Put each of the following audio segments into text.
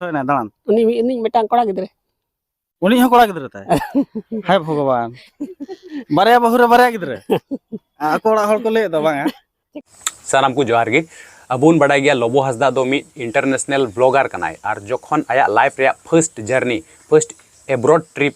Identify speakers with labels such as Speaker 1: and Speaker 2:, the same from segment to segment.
Speaker 1: ᱦᱩᱭᱱᱟ ᱫᱟᱬᱟᱱ ᱩᱱᱤ ᱢᱤᱫ ᱩᱱᱤ ᱢᱤᱫᱴᱟᱝ ᱠᱚᱲᱟ ᱜᱤᱫᱽᱨᱟᱹ ᱩᱱᱤ ᱦᱚᱸ ᱠᱚᱲᱟ ᱜᱤᱫᱽᱨᱟᱹ ᱛᱟᱭ ᱦᱟᱭ ᱵᱷᱚᱜᱚᱵᱟᱱ ᱵᱟᱨᱭᱟ ᱵᱟᱹᱦᱩ ᱨᱮ ᱵᱟᱨᱭᱟ ᱜᱤᱫᱽᱨᱟᱹ ᱟᱠᱚ ᱚᱲᱟᱜ ᱦᱚᱲ ᱠᱚ ᱞᱟᱹᱭ ᱫᱟ ᱵᱟᱝ ᱥᱟᱱᱟᱢ ᱠᱚ ᱡᱚᱦᱟᱨ ᱜᱮ ᱟᱵᱚᱱ ᱵᱟᱰᱟᱭ ᱜᱮᱭᱟ ᱞᱚᱵᱚ ᱦᱟᱸᱥᱫᱟ ᱫᱚ ᱢᱤᱫ ᱤᱱᱴᱟᱨᱱᱮᱥᱱᱟᱞ ᱵᱞᱚᱜᱟᱨ ᱠᱟᱱᱟᱭ ᱟᱨ ᱡᱚᱠᱷᱚᱱ ᱟᱭᱟᱜ ᱞᱟᱭᱤᱯᱷ ᱨᱮᱭᱟᱜ first journey first abroad trip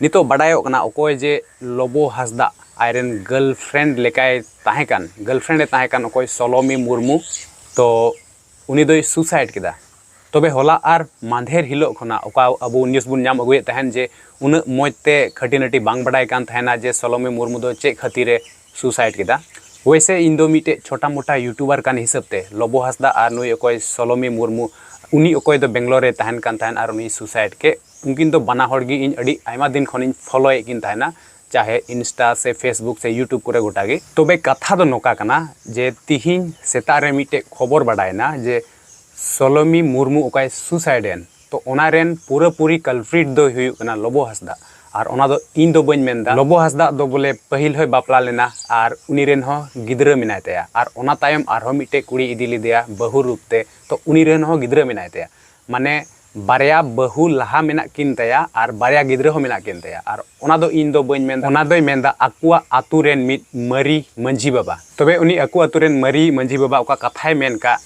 Speaker 1: ᱱᱤᱛᱚᱜ ᱵᱟᱰᱟᱭᱚᱜ ᱠᱟᱱᱟ ᱚᱠᱚᱭ ᱡᱮ ᱞᱚᱵᱚ ᱦᱟᱸᱥᱫᱟ ᱟᱡ ᱨᱮᱱ ᱜᱟᱨᱞᱯᱷᱨᱮᱱᱰ ᱞᱮᱠᱟᱭ ᱛᱟᱦᱮᱸ ᱠᱟᱱ ᱜᱟᱨᱞᱯᱷᱨᱮᱱᱰ ᱮ ᱛᱟᱦᱮᱸ ᱠᱟᱱ ᱚᱠᱚᱭ ᱥᱚᱞᱚᱢᱤ ᱢᱩᱨᱢᱩ ᱛᱚ ᱩᱱᱤ ᱫᱚᱭ ᱥᱩᱥᱟᱭᱤᱰ ᱠᱮᱫᱟ ᱛᱚᱵᱮ ᱦᱚᱞᱟ ᱟᱨ ᱢᱟᱫᱷᱮᱨ ᱦᱤᱞᱳᱜ ᱠᱷᱚᱱᱟᱜ ᱚᱠᱟ ᱟᱵᱚ ᱱᱤᱭᱩᱡᱽ ᱵᱚᱱ ᱧᱟᱢ ᱟᱹᱜᱩᱭᱮᱫ ᱛᱟᱦᱮᱱ ᱡᱮ ᱩᱱᱟᱹᱜ ᱢᱚᱡᱽ ᱛᱮ ᱠᱷᱟᱹᱴᱤ ᱱᱟᱹᱴᱤ ᱵᱟᱝ ᱵᱟᱰᱟᱭ ᱠᱟᱱ ᱛᱟᱦᱮᱱᱟ ᱡᱮ ᱥᱚᱞᱚᱢᱤ ᱢᱩᱨᱢᱩ ᱫᱚ ᱪᱮᱫ ᱠᱷᱟᱹᱛᱤᱨᱮ ᱥᱩᱥᱟᱭᱤᱰ ᱠᱮᱫᱟ ᱳᱭᱥᱮ ᱤᱧ ᱫᱚ ᱢᱤᱫᱴᱮᱡ ᱪᱷᱚᱴᱟ ᱢᱚᱴᱟ ᱭᱩᱴᱩᱵᱟᱨ ᱠᱟᱱ ᱦᱤᱥᱟᱹᱵ ᱛᱮ ᱞᱚᱵᱚ ᱦᱟᱸᱥᱫᱟ ᱟᱨ ᱱᱩᱭ ᱚᱠᱚᱭ ᱥᱚᱞᱚᱢᱤ ᱢᱩᱨᱢᱩ ᱩᱱᱤ ᱚᱠᱚᱭ ᱫᱚ ᱵᱮᱝᱜᱟᱞᱳᱨ ᱨᱮ ᱛᱟᱦᱮᱱ ᱠᱟᱱ ᱛᱟᱦᱮᱱ ᱟᱨ ᱩᱱᱤ ᱥᱩᱥᱟᱭᱤᱰ ᱠᱮᱫ ᱩᱱᱠᱤᱱ ᱫᱚ ᱵᱟᱱᱟ ᱦᱚᱲ ᱜᱮ ᱤᱧ ᱟᱹᱰᱤ ᱟᱭᱢᱟ ᱫᱤᱱ ᱠᱷᱚᱱᱤᱧ ᱯᱷᱚᱞᱳᱭᱮᱫ ᱠᱤᱱ ᱛᱟᱦᱮᱱᱟ ᱪᱟᱦᱮ ᱤᱱᱥᱴᱟ ᱥᱮ ᱯᱷᱮᱥᱵᱩᱠ ᱥᱮ ᱭᱩᱴᱩᱵᱽ ᱠᱚᱨᱮ ᱜᱚᱴᱟ ᱜᱮ ᱛᱚᱵᱮ ᱠᱟᱛᱷᱟ ᱫᱚ ᱱᱚᱝᱠᱟ ᱠᱟᱱᱟ ᱡᱮ ᱛᱤᱦᱤᱧ ᱥᱮᱛᱟᱜ ᱨᱮ ᱢᱤᱫᱴᱮᱡ ᱠᱷᱚᱵᱚᱨ ᱵᱟᱰᱟᱭᱮᱱᱟ ᱡᱮ ᱥᱚᱞᱚᱢᱤ ᱢᱩᱨᱢᱩ ᱚᱠᱚᱭ ᱥᱩᱥᱟᱭᱤᱰ ᱮᱱ ᱛᱚ ᱚᱱᱟ ᱨᱮᱱ ᱯᱩᱨᱟᱹ ᱯᱩᱨᱤ ᱠᱟᱞᱯᱨᱤᱴ ᱫᱚᱭ ᱦᱩᱭᱩᱜ ᱠᱟᱱᱟ ᱞᱚᱵᱚ ᱦᱟᱸᱥᱫᱟ ᱟᱨ ᱚᱱᱟ ᱫᱚ ᱤᱧ ᱫᱚ ᱵᱟᱹᱧ ᱢᱮᱱᱫᱟ ᱞᱚᱵᱚ ᱦᱟᱸᱥᱫᱟ ᱫᱚ ᱵᱚᱞᱮ ᱯᱟᱹᱦᱤᱞ ᱦᱚᱸᱭ ᱵᱟᱯᱞᱟ ᱞᱮᱱᱟ ᱟᱨ ᱩᱱᱤ ᱨᱮᱱ ᱦᱚᱸ ᱜᱤᱫᱽᱨᱟᱹ ᱢᱮᱱᱟᱭ ᱛᱟᱭᱟ ᱟᱨ ᱚᱱᱟ ᱛᱟᱭᱚᱢ ᱟᱨᱦᱚᱸ ᱢᱤᱫᱴᱮᱡ ᱠᱩᱲᱤ ᱤᱫᱤ ᱞᱮᱫᱮᱭᱟ ᱵᱟᱹᱦᱩ ᱨᱩᱯ ᱛᱮ ᱛᱚ ᱩᱱᱤ ᱨᱮᱱ ᱦᱚᱸ ᱜᱤᱫᱽᱨᱟᱹ ᱢᱮᱱᱟᱭ ᱛᱟᱭᱟ ᱢᱟᱱᱮ ᱵᱟᱨᱭᱟ ᱵᱟᱹᱦᱩ ᱞᱟᱦᱟ ᱢᱮᱱᱟᱜ ᱠᱤᱱ ᱛᱟᱭᱟ ᱟᱨ ᱵᱟᱨᱭᱟ ᱜᱤᱫᱽᱨᱟᱹ ᱦᱚᱸ ᱢᱮᱱᱟᱜ ᱠᱤᱱ ᱛᱟᱭᱟ ᱟᱨ ᱚᱱᱟ ᱫᱚ ᱤᱧ ᱫᱚ ᱵᱟᱹᱧ ᱢᱮᱱᱫᱟ ᱚᱱᱟ ᱫᱚᱭ ᱢᱮᱱᱫᱟ ᱟᱠᱚᱣᱟᱜ ᱟᱛᱳ ᱨᱮᱱ ᱢᱤᱫ ᱢᱟᱹᱨᱤ ᱢᱟᱹᱡᱷᱤ ᱵᱟᱵᱟ ᱛᱚᱵᱮ ᱩᱱᱤ ᱟᱠᱚ ᱟᱛᱳ ᱨᱮᱱ ᱢᱟᱹᱨᱤ ᱢᱟᱹᱡᱷᱤ ᱵᱟᱵᱟ ᱚᱠᱟ ᱠᱟᱛᱷᱟᱭ ᱢᱮᱱ ᱠᱟᱜ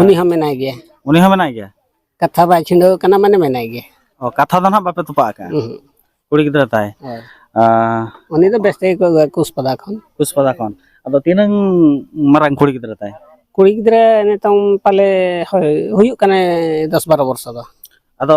Speaker 1: ᱩᱱᱤ ᱦᱚᱸ ᱢᱮᱱᱟᱭ ᱜᱮᱭᱟ ᱩᱱᱤ ᱦᱚᱸ ᱢᱮᱱᱟᱭ ᱜᱮᱭᱟ ᱠᱟᱛᱷᱟ ᱵᱟᱭ ᱪᱷᱤᱸᱰᱟᱹᱣ ᱠᱟᱱᱟ ᱢᱟᱱᱮ ᱢᱮᱱᱟᱭ ᱜᱮᱭᱟ ᱚ ᱠᱟᱛᱷᱟ ᱫᱚ ᱱᱟᱦᱟᱜ ᱵᱟᱯᱮ ᱛᱚᱯᱟᱜ ᱟᱠᱟᱫᱼᱟ ᱠᱩᱲᱤ ᱜᱤᱫᱽᱨᱟᱹ ᱛᱟᱭ ᱩᱱᱤ ᱫᱚ ᱵᱮᱥ ᱛᱮᱜᱮ ᱠᱚ ᱟᱹᱜᱩᱭᱟ ᱠᱩᱥᱯᱟᱫᱟ ᱠᱷᱚᱱ ᱠᱩᱥᱯᱟᱫᱟ ᱠᱷᱚᱱ ᱟᱫᱚ ᱛᱤᱱᱟᱹᱝ ᱢᱟᱨᱟᱝ ᱠᱩᱲᱤ ᱜᱤᱫᱽᱨᱟᱹ ᱛᱟᱭ ᱠᱩᱲᱤ ᱜᱤᱫᱽᱨᱟᱹ ᱱᱤᱛᱚᱝ ᱯᱟᱞᱮ ᱦᱳᱭ ᱦᱩᱭᱩᱜ ᱠᱟᱱᱟᱭ ᱫᱚᱥ ᱵᱟᱨᱚ ᱵᱚᱨᱥᱚ ᱫᱚ ᱟᱫᱚ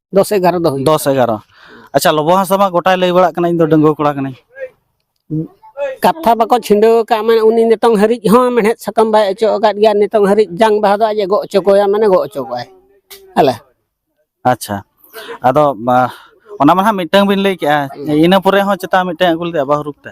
Speaker 1: ᱫᱚᱥ ᱮᱜᱟᱨᱚ ᱫᱚ ᱦᱩᱭᱩᱜ ᱫᱚᱥ ᱮᱜᱟᱨᱚ ᱟᱪᱪᱷᱟ ᱞᱚᱵᱚ ᱦᱟᱸᱥᱫᱟ ᱢᱟ ᱜᱚᱴᱟᱭ ᱞᱟᱹᱭ ᱵᱟᱲᱟᱜ ᱠᱟᱱᱟ ᱤᱧ ᱫᱚ ᱰᱟᱺᱜᱩᱣᱟᱹ ᱠᱚᱲᱟ ᱠᱟᱹᱱᱟᱹᱧ ᱠᱟᱛᱷᱟ ᱵᱟᱠᱚ ᱪᱷᱤᱸᱰᱟᱹᱣ ᱟᱠᱟᱫ ᱢᱟᱱᱮ ᱩᱱᱤ ᱱᱤᱛᱚᱝ ᱦᱟᱹᱨᱤᱡ ᱦᱚᱸ ᱢᱮᱲᱦᱮᱫ ᱥᱟᱠᱟᱢ ᱵᱟᱭ ᱚᱪᱚᱜ ᱟᱠᱟᱫ ᱜᱮᱭᱟ ᱱᱤᱛᱚᱝ ᱦᱟᱹᱨᱤᱡ ᱡᱟᱝ ᱵᱟᱦᱟ ᱫᱚ ᱟᱡ ᱮ ᱜᱚᱜ ᱦᱚᱪᱚ ᱠᱚᱣᱟ ᱢᱟᱱᱮ ᱜᱚᱜ ᱦᱚᱪᱚ ᱠᱚᱣᱟᱭ ᱦᱮᱞᱮ ᱟᱪᱪᱷᱟ ᱟᱫᱚ ᱵᱟ- ᱚᱱᱟ ᱢᱟ ᱦᱟᱸᱜ ᱢᱤᱫᱴᱟᱝ ᱵᱤᱱ ᱞᱟᱹᱭ ᱠᱮᱜᱼᱟ ᱤᱱᱟᱹ ᱯᱚᱨᱮ ᱦᱚᱸ ᱪᱮᱛᱟ ᱢᱤᱫᱴᱟᱝ ᱟᱹᱜᱩ ᱞᱮᱫᱮᱭᱟ ᱵᱟᱹᱦᱩ ᱨᱩᱯ ᱛᱮ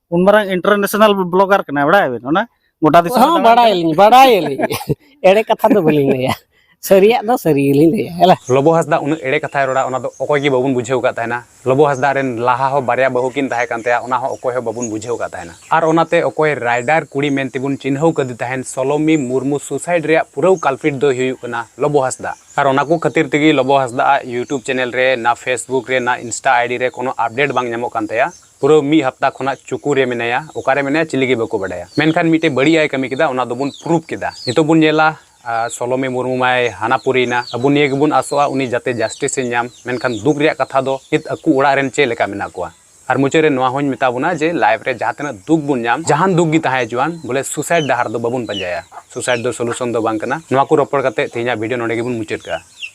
Speaker 1: ᱩᱱ ᱢᱟᱨᱟᱝ ᱤᱱᱴᱟᱨᱱᱮᱥᱱᱟᱞ ᱵᱞᱚᱜᱟᱨ ᱠᱟᱱᱟᱭ ᱵᱟᱲᱟᱭᱟᱵᱤᱱ ᱚᱱᱟ ᱜᱚᱴᱟ ᱫᱤᱥᱚᱢ ᱦᱚᱸ ᱫᱟᱬᱟᱱ ᱵᱟᱲᱟᱭ ᱟᱹᱞᱤᱧ ᱵᱟᱲᱟᱭ ᱟᱹᱞᱤᱧ ᱮᱲᱮ ᱠᱟᱛᱷᱟ ᱫᱚ ᱵᱟᱹᱞᱤᱧ ᱞᱟᱹᱭᱟ ᱥᱟᱹᱨᱤᱭᱟᱜ ᱫᱚ ᱥᱟᱹᱨᱤ ᱜᱮᱞᱤᱧ ᱞᱟᱹᱭᱟ ᱦᱮᱞᱟ ᱞᱚᱵᱚ ᱦᱟᱸᱥᱫᱟ ᱩᱱᱟᱹᱜ ᱮᱲᱮ ᱠᱟᱛᱷᱟᱭ ᱨᱚᱲᱟ ᱚᱱᱟ ᱫᱚ ᱚᱠᱚᱭ ᱜᱮ ᱵᱟᱵᱚᱱ ᱵᱩᱡᱷᱟᱹᱣ ᱠᱟᱫ ᱛᱟᱦᱮᱱᱟ ᱞᱚᱵᱚ ᱦᱟᱸᱥᱫᱟ ᱨᱮᱱ ᱞᱟᱦᱟ ᱦᱚᱸ ᱵᱟᱨᱭᱟ ᱵᱟᱹᱦᱩ ᱠᱤᱱ ᱛᱟᱦᱮᱸ ᱠᱟᱱ ᱛᱟᱭᱟ ᱚᱱᱟ ᱦᱚᱸ ᱚᱠᱚᱭ ᱦᱚᱸ ᱵᱟᱵᱚᱱ ᱵᱩᱡᱷᱟᱹᱣ ᱠᱟᱫ ᱛᱟᱦᱮᱱᱟ ᱟᱨ ᱚᱱᱟᱛᱮ ᱚᱠᱚᱭ ᱨᱟᱭᱰᱟᱨ ᱠᱩᱲᱤ ᱢᱮᱱ ᱛᱮᱵᱚᱱ ᱪᱤᱱᱦᱟᱹᱣ ᱠᱟᱫᱮ ᱛᱟᱦᱮᱱ ᱥᱚᱞᱚᱢᱤ ᱢᱩᱨᱢᱩ ᱥᱩᱥᱟᱭᱤᱰ ᱨᱮᱭᱟᱜ ᱯᱩᱨᱟᱹᱣ ᱠᱟᱞᱯᱤᱴ ᱫᱚᱭ ᱦᱩᱭᱩᱜ ᱠᱟᱱᱟ ᱞᱚᱵᱚ ᱦᱟᱸᱥᱫᱟ ᱟᱨ ᱚᱱᱟ ᱠᱚ ᱠᱷᱟᱹᱛᱤᱨ ᱛᱮᱜᱮ ᱞᱚᱵᱚ ᱦᱟᱸᱥᱫᱟ ᱟᱜ ᱤᱭᱩᱴᱩᱵᱽ ᱪᱮᱱᱮᱞ ᱨᱮ ᱱᱟ ᱯᱷᱮᱥᱵᱩᱠ ᱨᱮ ᱱᱟ ᱤᱱᱥᱴᱟ ᱟᱭᱰᱤ ᱨᱮ ᱠᱳᱱᱳ ᱟᱯᱰᱮᱴ ᱵᱟᱝ ᱧᱟᱢᱚᱜ ᱠᱟᱱ ᱛᱟᱭᱟ ᱯᱩᱨᱟᱹ ᱢᱤᱫ ᱦᱟᱯᱛᱟ ᱠᱷᱚᱱᱟᱜ ᱪᱩᱠᱩ ᱨᱮ ᱢᱮᱱᱟᱭᱟ ᱚᱠᱟᱨᱮ ᱢᱮᱱᱟᱭᱟ ᱪᱤᱞᱤ ᱜᱮ ᱵᱟᱠᱚ ᱵᱟᱰᱟᱭᱟ ᱢᱮᱱᱠᱷᱟᱱ ᱢᱤᱫᱴᱮᱡ ᱵᱟᱹᱲᱤᱡ ᱟᱭ ᱠᱟᱹᱢᱤ ᱠᱮᱫᱟ ᱚᱱᱟ ᱫᱚᱵᱚᱱ ᱯᱨᱩᱯ ᱠᱮᱫᱟ ᱱᱤᱛᱚᱜ ᱵᱚᱱ ᱧᱮᱞᱟ ᱥᱚᱞᱚᱢᱤ ᱢᱩᱨᱢᱩ ᱢᱟᱭ ᱦᱟᱱᱟ ᱯᱩᱨᱤᱭᱮᱱᱟ ᱟᱵᱚ ᱱᱤᱭᱟᱹ ᱜᱮᱵᱚᱱ ᱟᱥᱚᱜᱼᱟ ᱩᱱᱤ ᱡᱟᱛᱮ ᱡᱟᱥᱴᱤᱥ ᱮ ᱧᱟᱢ ᱢᱮᱱᱠᱷᱟᱱ ᱫᱩᱠ ᱨᱮᱭᱟᱜ ᱠᱟᱛᱷᱟ ᱫᱚ ᱱᱤᱛ ᱟᱠᱚ ᱚᱲᱟᱜ ᱨᱮᱱ ᱪᱮᱫ ᱞᱮᱠᱟ ᱢᱮᱱᱟᱜ ᱠᱚᱣᱟ ᱟᱨ ᱢᱩᱪᱟᱹᱫ ᱨᱮ ᱱᱚᱣᱟ ᱦᱚᱧ ᱢᱮᱛᱟ ᱵᱚᱱᱟ ᱡᱮ ᱞᱟᱭᱤᱯᱷ ᱨᱮ ᱡᱟᱦᱟᱸ ᱛᱤᱱᱟᱹᱜ ᱫᱩᱠ ᱵᱚᱱ ᱧᱟᱢ ᱡᱟᱦᱟᱱ ᱫᱩᱠ ᱜᱮ ᱛᱟᱦᱮᱸ ᱦᱚᱪᱚᱣᱟᱱ ᱵᱚᱞᱮ ᱥᱩᱥᱟᱭᱤᱰ ᱰᱟᱦᱟᱨ ᱫᱚ ᱵᱟᱵᱚᱱ ᱯᱟᱸᱡᱟᱭᱟ ᱥᱩᱥᱟᱭᱤᱰ ᱫᱚ ᱥᱚᱞᱩᱥᱚᱱ ᱫᱚ ᱵᱟᱝ ᱠᱟᱱᱟ ᱱᱚᱣᱟ ᱠᱚ ᱨᱚᱯᱚᱲ ᱠᱟᱛᱮ ᱛᱮᱦᱮᱧᱟᱜ ᱵᱷᱤᱰᱤᱭᱳ ᱱᱚᱰᱮ ᱜᱮᱵᱚᱱ ᱢᱩᱪᱟᱹᱫ ᱠᱟᱜᱼᱟ